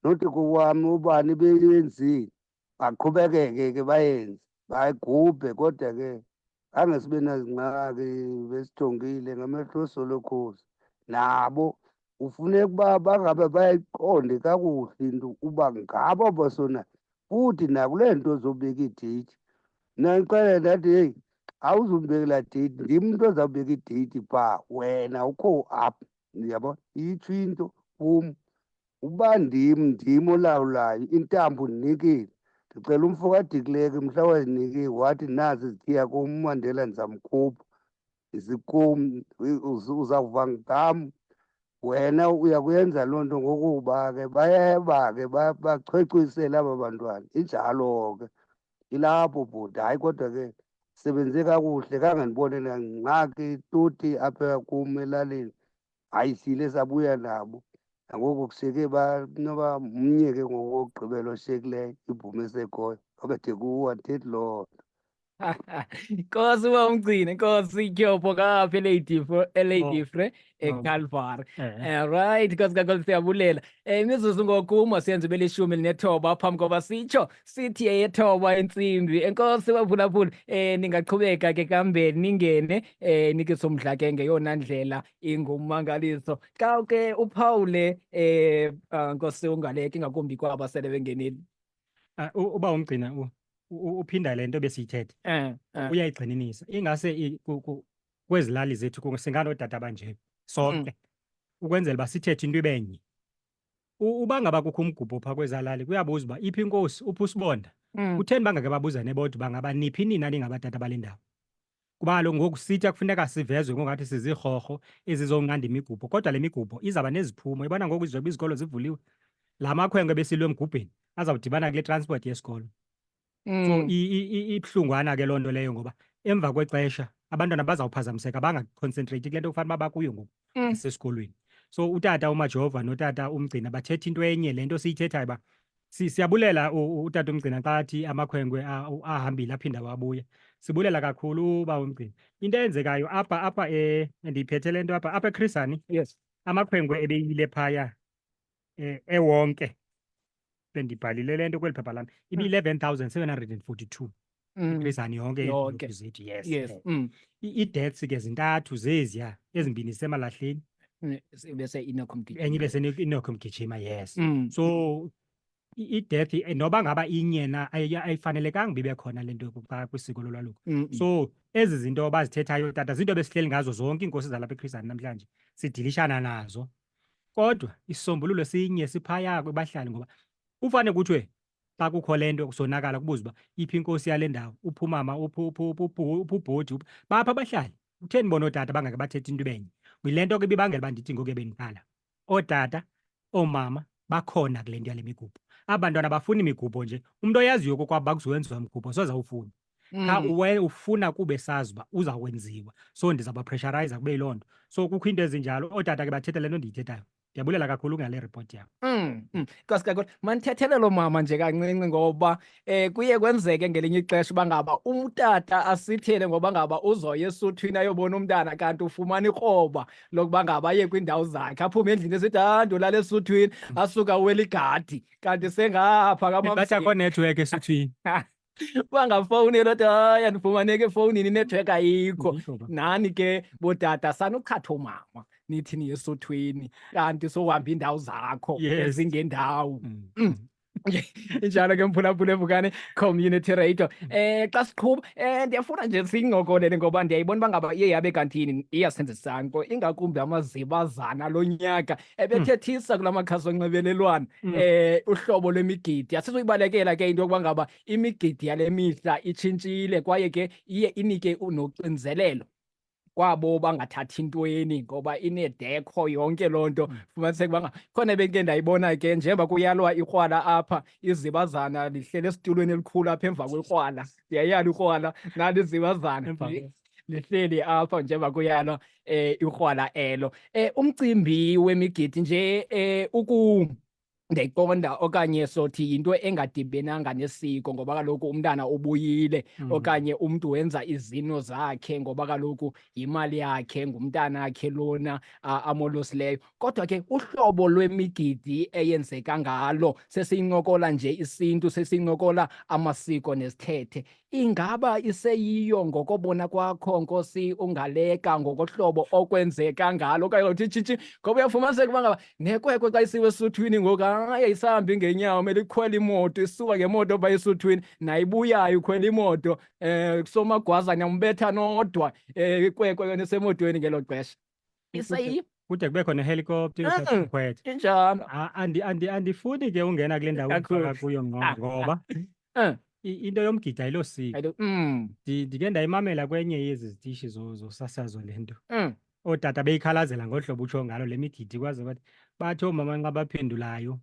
nothi kowami ubani beyenzile baqhubekeke ke bayenze bayigubhe kodwa ke khange sibe nazingxaki besithongile ngamehlo solokhozi nabo ufuneka uba bangabe bayiqonde kakuhle into uba ngabo basona futhi nakule nto zobeka idate nandixele ndathi heyi awuzumbekela date ndim mntu ozawubeka idate pha wena ukho up ndiyabona itsho into kum uba ndim ndim olawulayo intambo ndinikile ndicela umfo kadikileke mhla wazinikile wathi nazi zithiya kum umandela ndizamkhupha zikum uzawuva ngam wena uyakuyenza loo nto ngokuba ke bayeba ke bachwechwisele aba bantwana injalo ke ilapho bhuti hayi kodwa ke sebenze kakuhle kangandibone nangxaki tuti apha kum elalini hayi sile sabuya nabo nangoko kuseke banoba mnye ke ngoku wokugqibela oshiyekileyo ibhume esekhoyo obethe kuwo andithethi loo nto Nkosi uba umgcine Nkosi ityopho kapha eLadyfre eLadyfre oh. eCalvary oh. eh. eh, right Nkosi kaNkosi siyabulela um imizuzu ngoku masiyenze ube lishumi elinethoba phambi koba sitsho sithi eyethoba intsimbi enkosi baphulaphula eh ningaqhubeka ke kambe ningene eh nikisomdla ke ngeyona ndlela ingumangaliso xa ke uphawule eh ah, nkosi ungaleki ngakumbi kwaba sele bengenile ah, uba umgcina uphinda le nto besiyithethe eh, eh. uyayigxininisa ingase kwezilali zethu singanoodata banje sonke mm. ukwenzela uba sithethe into ibenye u- uba ngaba kukho umgubho phaa kwezaa lali kuyabuza uba iphi inkosi uphi usibonda Mm. kutheni bangake babuzane bodwa uba ngaba niphi nina ningabatata bale ndawo kuba kaloku ngoku sitya kufuneka sivezwe ngokungathi sizirhorho ezizonqanda imigubho kodwa le migubho izawuba neziphumo ibona ngoku izoba izikolo zivuliwe la makhwenkwe besilwe emgubheni azawudibana kule transport yesikolo So mm. ibuhlungwana ke loo nto leyo ngoba emva kwexesha abantwana bazawuphazamiseka bangaconcentrate kule nto kufanele uba bakuyo ngoku mm. esikolweni. So utata uMajova notata uMgcina bathetha into enye le nto siyithethayo uba siyabulela utata uMgcina xa athi amakhwenkwe ahambile aphinde awabuya. Sibulela kakhulu uba uMgcina. Into eyenzekayo apha apha e, ndiyiphethe le nto apha apha eKhrisani Yes. amakhwenkwe ebeyile phaya eh, ewonke bendibhalile le nto kweli phepha lam ibi-eleven thousand seven hundred and forty-two Mm. iphezani yonke Yonke. izinto zethu yes Yes. eh. Mm. I- ii-deaths ke zintathu zeziya ezimbini semalahleni Mm. Se- Bese inakho mgijima. enye ibe senokho mgijima yes Mm. so i- i-death eh, noba ngaba inye na ayi- ayifanelekanga uba ibe khona le nto yokuqala kwisiko lolwaluko Mm, mm. so ezi zinto bazithethayo tata zinto besihleli ngazo zonke iinkosi zalapha ekhrizani namhlanje sidilishana nazo kodwa isisombululo sinye siphaya kwebahlali ngoba ufane kuthiwe xa kukho le nto kusonakala kubuza uba iphi inkosi yale ndawo uphumama uphubhodi bapha abahlali kutheni bona ootata bangake bathethe into ibenye yile nto ke ibibangela uba ndithi ngoku ebendikhala ootata oomama bakhona kule nto yale migubho aba bantwana bafuna imigubho nje umntu oyaziyo kokwabo bakuzowenziwa mgubho sozawufuna qha mm. uwe ufuna kuba esazi uba uza kwenziwa so ndizabapressuriza kube yiloo nto so kukho iinto ezinjalo ootata ke bathetha le nto ndiyithethayo ndiyabulela kakhulu ngale report yam mm, mm. nkosi kakhulu mandithethelele umama nje kancinci ngoba um kuye kwenzeke ngelinye ixesha uba ngaba umtata asithele ngoba ngaba uzoya esuthwini ayobona umntana kanti ufumana ikroba lokuba ngaba aye kwiindawo zakhe aphume endlini esithi ha ah, ndolala esuthwini asuka uweligadi kanti sengapha kambathi akho network esuthwini bangafowunelwa ti hayi andifumaneki efowunini inetwork ayikho nani ke bootata sanukhatha omama nithi niyesothweni kanti sohamba iindawo zakho ezingendawo mm. mm. injalo ke mphulaphula evukane community radio eh xa siqhuba eh ndiyafuna nje sincokolele ngoba ndiyayibona uba ngaba iye yabe kantini iyasenzisana ko ingakumbi amazibazana lo nyaka ebethethisa kula makhasi onxibelelwano um uhlobo lwemigidi asizoyibalekela ke into yokuba ngaba imigidi yale mihla itshintshile kwaye ke iye inike noxinzelelo kwabo bangathathi intweni ngoba inedekho yonke loo nto mm. fumaniseke uba khona beke ndayibona ke njengoba kuyalwa ikrwala apha izibazana lihlele esitulweni elikhulu apha emva kwekrwala ndiyayala ikrwala nalo izibazana lihleli apha njengoba kuyalo eh ikrwala elo eh umcimbi wemigidi nje eh uku ndiyayiqonda okanye sothi yinto engadibenanga nesiko ngoba kaloku umntana ubuyile mm. okanye umntu wenza izino zakhe ngoba kaloku yimali yakhe ngumntana akhe lona amolosileyo kodwa ke uhlobo lwemigidi eyenzeka ngalo sesiyincokola nje isintu sesiyincokola amasiko nezithethe Ingaba iseyiyo ngokobona kwakho Nkosi ungaleka ngokohlobo okwenzeka ngalo okanye uthi tshitshi ngoba uyafumaniseka uba ngaba nekwekwe xa isiwe esuthwini ngoku hayi ayisahambi ngeenyawo mele ikhwela imoto isuka ngemoto pha esuthwini nayibuyayo ukhwela imoto um eh, kusomagwazana umbetha nodwa um eh, ikwekwe yona isemotweni ngelo xesha Isa Kude- i- kude kubekho nehelikopta Ah. iyokhwetha injalo. A- andi- andi- andifuni ke ungena kule ndawo Kakhulu. ufaka kuyo ngqo Ah, ah. ngoba Eh. i- into yomgidi ayilosiko Ayilo- Mm, Ndi- ndike ndayimamela kwenye yezi zitishi zo- zosasazo le nto mm. ootata beyikhalazela ngolu hlobo utsho ngalo le migidi kwaze bathi bathi oomama nxa baphendulayo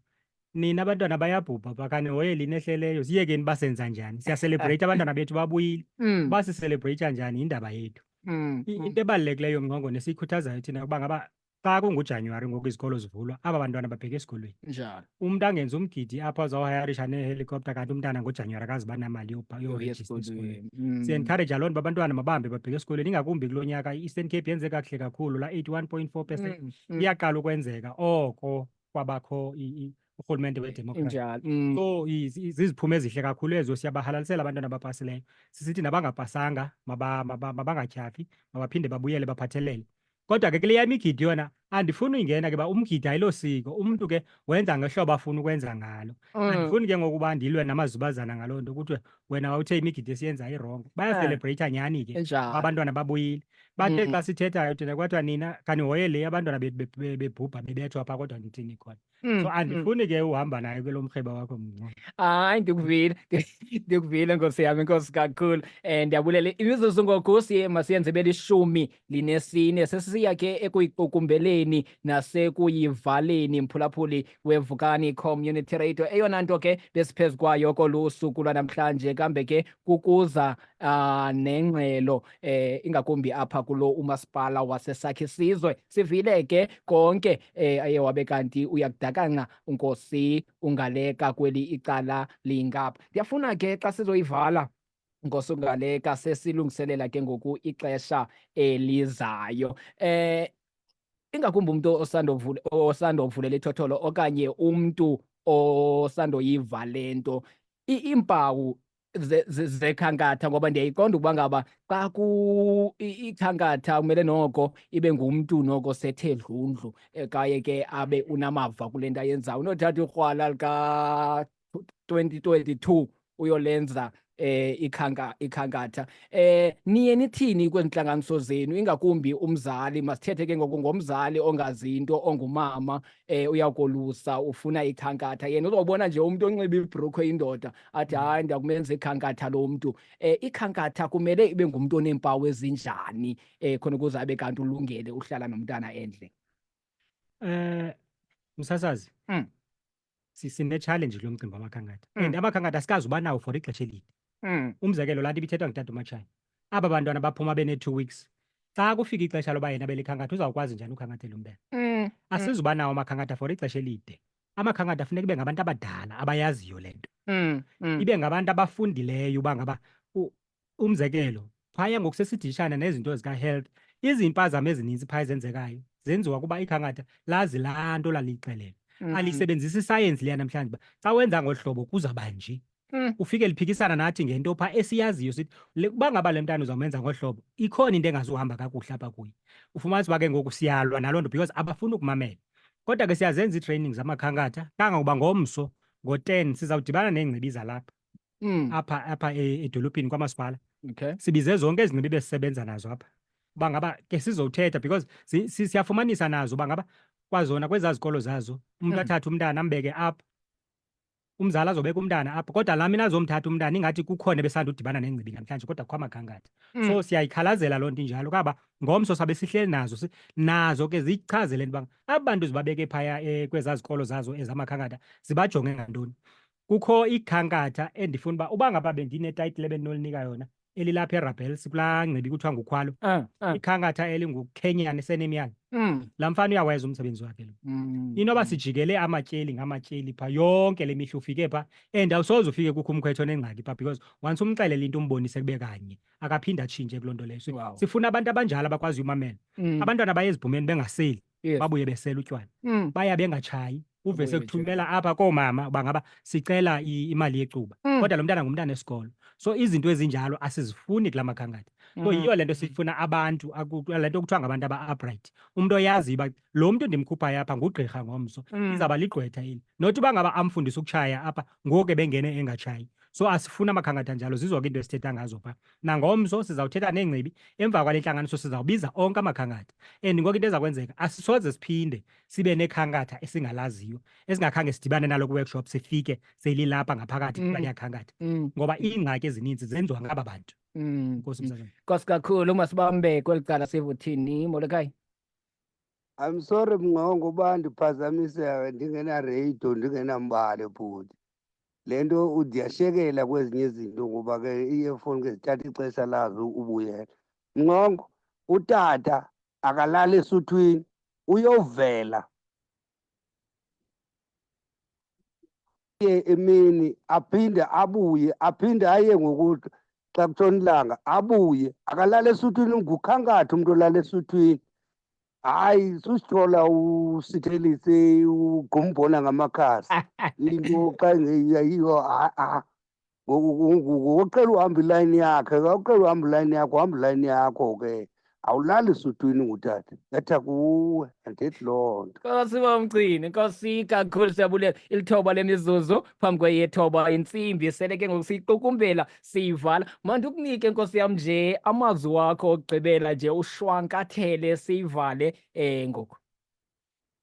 nina abantwana bayabhubha pha kanihoye lini ehleleyo siyekeni basenza njani siyaselebreyitha abantwana bethu babuyile Mm. basiselebreyitha njani yindaba yethu Mm, I- mm. Into ebalulekileyo mna ngoko nesiyikhuthazayo thina ukuba ngaba xa kunguJanuwari ngoku izikolo zivulwa aba bantwana babheke esikolweni. Njalo. Umntu angenza umgidi apho azawuhayarisha nehelikopta kanti umntana ngoJanuwari akazi uba namali yobha- Yoya yorejista esikolweni. esikolweni. Mm. Siyencouraja loo nto uba abantwana mabambe babheke esikolweni ingakumbi kulo nyaka i-Eastern Cape yenze kakuhle kakhulu la eighty-one point four percent Mm, mm. iyaqala ukwenzeka oko kwabakho urhulumente wedemokhrasi mm. so ziziphumo ezihle kakhulu ezo siyabahalalisela abantwana abapasileyo sisithi nabangapasanga mabangatyhafi mabaphinde babuyele baphathelele kodwa ke kule yam igidi yona andifuni uyingena ke ba umgidi ayilo siko umntu ke wenza ngehlobo afuna ukwenza ngalo mm. andifuni ke ngokuba ndilwe namazubazana ngaloo nto kuthiwe wena wawuthe imigidi esiyenzayo irongo Eh. bayaselebreyitha nyhani ke Enjalo. abantwana babuyile bathe Mm. xa sithethayo thina kwathiwa nina khanihoye le abantwana be- be- be- bebhubha bebethwa pha kodwa nithini khona Mm, so mm. andifuni ke uhamba nayo ke lo mrheba wakho mnqo hayi ndikuvile ndikuvile nkosi yami nkosi kakhulu um ndiyabulela imizuzu ngoku siye masiyenze belishumi linesine sesiya ke ekuyiqukumbeleni nasekuyivaleni mphulaphuli wevukani community radio eyona nto ke besiphezu kwayo kolu suku lwanamhlanje kambe ke kukuza uh, nengxelo eh, ingakumbi apha kulo umasipala wasesakhe sizwe sivile ke konke eh, aye wabe kanti uyakudakanca unkosi ungaleka kweli icala lingapha ndiyafuna ke xa sizoyivala ngosungaleka sesilungiselela ke ngoku ixesha elizayo eh ingakumbi umuntu osandovule osandovulela ithotholo okanye umuntu osandoyiva lento iimpawu zekhankatha ngoba ndiyayiqonda ukuba ngaba xa ku ikhankatha kumele noko ibe ngumntu noko sethe dlundlu eh, kaye ke abe unamava kule nto ayenzayo unothatha ikrwala lika 2022 uyolenza eh ikhanka ikhankatha eh niye nithini kwentlanganiso zenu ingakumbi umzali masithethe ke ngoku ngomzali ongazi into ongumama eh uyakolusa ufuna ikhankatha yena uzobona nje umuntu onxiba ibrokhwe indoda athi hayi ndiyakumenza ikhankatha lo mntu eh ikhankatha kumele ibe ngumuntu oneempawu ezinjani eh khona ukuze abe kanti ulungele uhlala nomntana endle eh msasazi mm. sine-challenge lo mcimbi wamakhankatha mm. and amakhankatha asikazi uba nawo for ixesha elide mm. umzekelo laa nto ibithethwa ngutata umatshana aba bantwana baphuma benee-two weeks xa kufika ixesha loba yena belikhankatha uzawukwazi njani ukhankathela umbele mm, mm. asizuba nawo amakhankatha for ixesha elide amakhankatha funeka ibe ngabantu abadala abayaziyo le nto mm, ibe ngabantu abafundileyo uba ngaba umzekelo phaya ngokusesidishana nezinto zikahealth izimpazamo ezininzi phaya ezenzekayo zenziwa kuba ikhankatha lazi laa nto laliyixelelwa mm. alisebenzisi isayensi liya namhlanje uba xa wenza ngolu hlobo kuzawuba nje mm. ufike liphikisana nathi ngento phaa esiyaziyo sithi uba ngaba le mntana uzawumenza ngolu hlobo ikhona into engazuhamba kakuhle apha kuye ufumanisa uba ke ngoku siyalwa naloo nto because abafuni ukumamela kodwa ke siyazenza ii-training zamakhankatha kangangoba ngomso ngo-ten sizawudibana neengcibi zalapha Mm. apha apha e- edolophini kwamasipala Okay. sibize zonke ezi ngcibi besisebenza nazo apha uba ngaba ke sizothetha because si- si- siyafumanisa nazo uba ngaba kwazona kwezaa zikolo zazo umntu Mm. athathe umntana ambeke apha umzali azobeka umntana apha kodwa laa mina azomthatha umntana ingathi kukhona ebesandudibana nengcibi namhlanje kodwa kukho amagangatha Mm. so siyayikhalazela loo nto injalo kaba ngomso sabe sihleli nazo si- nazo ke ziyichazele into uba aba bantu zibabeke phaya eh, kwezaa zikolo zazo ezamakhankatha zibajonge ngantoni kukho ikhankatha endifuna uba uba ngaba bendinetayitile bendinolinika yona elilapha erabels kulaa ngcibi kuthiwa ngukhwalo ah, ah. ikhankatha elingukenyani senemyana mm. laa mfana uyawayeza umsebenzi wakhe lo mm. inoba sijikele amatyeli ngamatyeli pha yonke le mihla ufike pha and awusoze ufike kukho umkhwetho onengxaki pha because once umxelele into umbonise kube kanye akaphinde atshintshe kuloo nto leyo sifuna abantu abanjalo abakwaziyo umamela mm. abantwana baye ezibhumeni bengaseli Yes. babuye besela utywala Mm, baya bengatshayi uve Babuye sekuthumela apha koomama uba ngaba sicela i- imali yecuba Mm. kodwa lo mntana ngumntana esikolo so izinto ezinjalo asizifuni kula makhankatha so Mhm. yiyo le nto sifuna abantu aku- le nto kuthiwa ngabantu aba-upright umntu oyaziyo uba lo mntu ndimkhuphayo apha ngugqirha ngomso mm. izawuba ligqwetha eli not uba ngaba amfundisa ukutshaya apha ngoku ebengene engatshayi so asifuni amakhankatha njalo zizoke into esithetha ngazo pha nangomso sizawuthetha neengcibi emva kwale ntlanganiso sizawubiza onke amakhankatha and ngoku into eza kwenzeka asisoze siphinde sibe nekhankatha esingalaziyo esingakhange sidibane nalo kwi-workshop sifike selilapha ngaphakathi mm. kulaya khankatha mm. ngoba iingxaki ezininzi zenziwa ngaba bantu mm. nkosi msazana nkosi kakhulu masibambe kweli cala sivuthini molekai I'm sorry mngongo uba ndiphazamiseka ndingenaradio ndingenambali bhuti le nto udiyashekela kwezinye izinto ngoba ke iefoni ke zithatha ixesha lazo ubuyela ncongo utata akalali esuthwini uyovela ye emini aphinde abuye aphinde aye ngokuthi xa kutshona ilanga abuye akalali esuthwini ngukhankathi umntu olala esuthwini hayi susithola usithelise ugumbona ngamakhasi into xa ingeyiyo ha-a ngokucela uhamba ilayini yakhe kawucela uhamba ilayini yakho uhamba ilayini yakho ke awulali sudwini ngutata etha kuwe andithi loo nto nkosi bomgcini nkosi kakhulu siyabulela ilithoba lemizuzu phambi kweyethoba intsimbi sele ke ngoku siyiqukumbela siyivala mandikunike nkosi yam nje amazwi wakho okugqibela nje ushwankathele siyivale um ngoku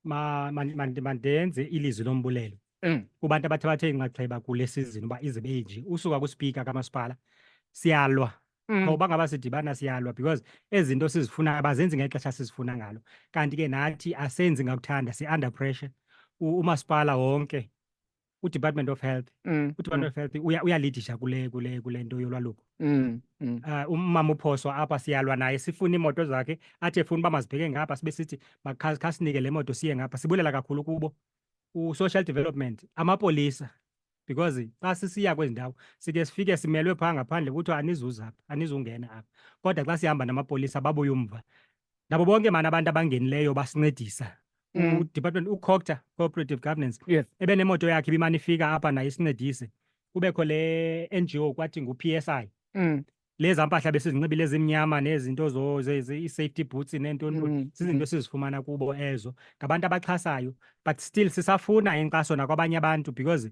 ma- man- man- mandenze ilizwi lombulelo Mm. kubantu abathi bathe inxaxheba kule sizini uba izibe inje usuka kuspika kamasipala siyalwa Mm. ngoba ngaba sidibana siyalwa because ezi zinto sizifuna abazenzi ngexesha sizifuna ngalo kanti ke nathi asenzi ngakuthanda si-under pressure U- umasipala wonke uDepartment of Health mm, uDepartment mm. of Health uya uyalidisha kule kule kule nto yolwaluko mm, mm. uh, umama uphoswa apha siyalwa naye sifuna iimoto zakhe athi efuna uba mazibheke ngapha sibe sithi makhasinike le moto siye ngapha sibulela kakhulu kubo u-social development amapolisa because xa sisiya kwezi ndawo sike sifike simelwe phaa ngaphandle kuthiwa anizuzapha anizungena apha kodwa xa sihamba namapolisa babuye umva nabo bonke mani abantu abangenileyo basincedisa mm. udepartment ucocta cooperative governance yes. ebenemoto yakhe ibimane ifika apha naye isincedise kubekho le ngo kwathi ngu-p s i mm. leza mpahla besizinxibile ezimnyama nezinto i-safety boots neentoni mm. zizinto esizifumana kubo ezo ngabantu abaxhasayo but still sisafuna inkxaso nakwabanye abantu because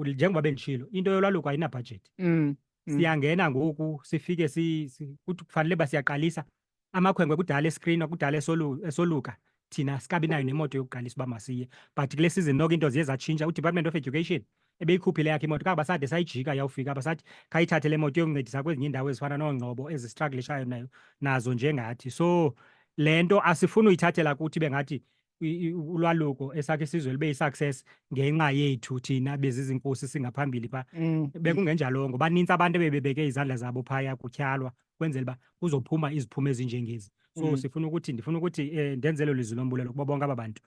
njengoba bendishilo into yolwaluko ayinabhajethi mm. Mm. Siyangena ngoku sifike si, si kuthi kufanele uba siyaqalisa amakhwenkwe kudala eskrinwa kudala esolu, esoluka thina sikabi nayo nemoto yokuqalisa uba masiye but kule season noko into ziye zatshintsha udepartment of education ebeyikhuphile yakhe imoto kaba sade sayijika yawufika basathi khayithathe le moto yokuncedisa kwezinye iindawo ezifana noongcobo ezistruglishayo nayo nazo njengathi so le nto asifuni uyithathela kuthi bengathi i- i- ulwaluko esakhe isizwe libe i-success ngenxa yethu thina bezizinkosi singaphambili pha Mm. bekungenjalo ngoba ninzi abantu ebebebeke izandla zabo phaya kutyhalwa kwenzela uba kuzophuma iziphumo ezinjengezi so Mm. sifuna ukuthi ndifuna ukuthi um ndenzele lizwi lombulelo kubo bonke aba bantu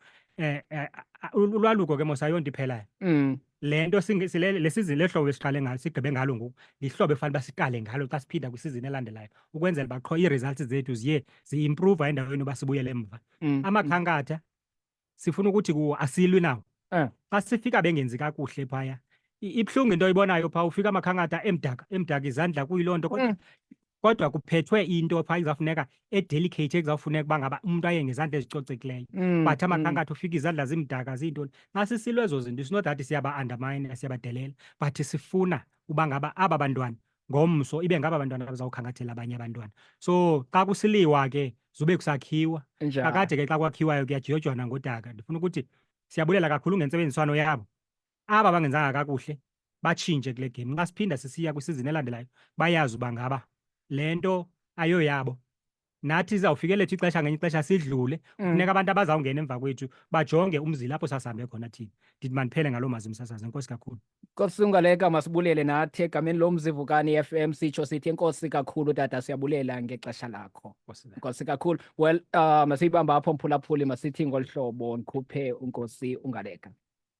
um ulwaluko ke mos ayonto iphelayo Mm. le nto singe- sile- le sizini lehlobo esiqale ngalo sigqibe ngalo ngoku lihlobo efanele uba siqale ngalo xa siphinda kwisizini elandelayo ukwenzela uba qho ii-results zethu ziye ziimprova endaweni yoba sibuyele emva Mm, mm. amakhankatha sifuna ukuthi kuwo asilwi nawo Eh. xa sifika bengenzi kakuhle phaya i- ibuhlungu into oyibonayo phaa ufika amakhankatha emdaka emdaka izandla kuyiloo nto kodwa Mm. kodwa kuphethwe into phaa izawufuneka edelicate ekuzawufuneka uba ngaba umntu aye ngezandla ezicocekileyo mm, but amakhankatha mm. ufika izandla zimdaka ziintoni xa sisilwe ezo zinto isino that siyaba-undermine siyabadelela but sifuna uba ngaba aba bantwana ngomso ibe ngaba bantwana bazawukhangathela abanye abantwana so xa kusiliwa ke zube kusakhiwa kakade ke xa kwakhiwayo kuyajiyojwana ngodaka ndifuna ukuthi siyabulela kakhulu ngentsebenziswano yabo aba bangenzanga kakuhle batshintshe kule game xa siphinda sisiya kwisizini elandelayo bayazi uba ngaba le nto ayoyabo nathi izawufike lethu ixesha ngenye ixesha sidlule mm. funeka abantu abazawungena emva kwethu bajonge umzila apho sasihambe khona thina ndithi mandiphele ngaloo mazwi msasazi enkosi kakhulu kosungaleka masibulele nathi egameni lo mzivukani i-f m sitsho sithi enkosi kakhulu tata siyabulela ngexesha lakho nkosi kakhulu well uh, masiyibamba apho mphulaphuli masithi ngolu hlobo ndikhuphe unkosi ungaleka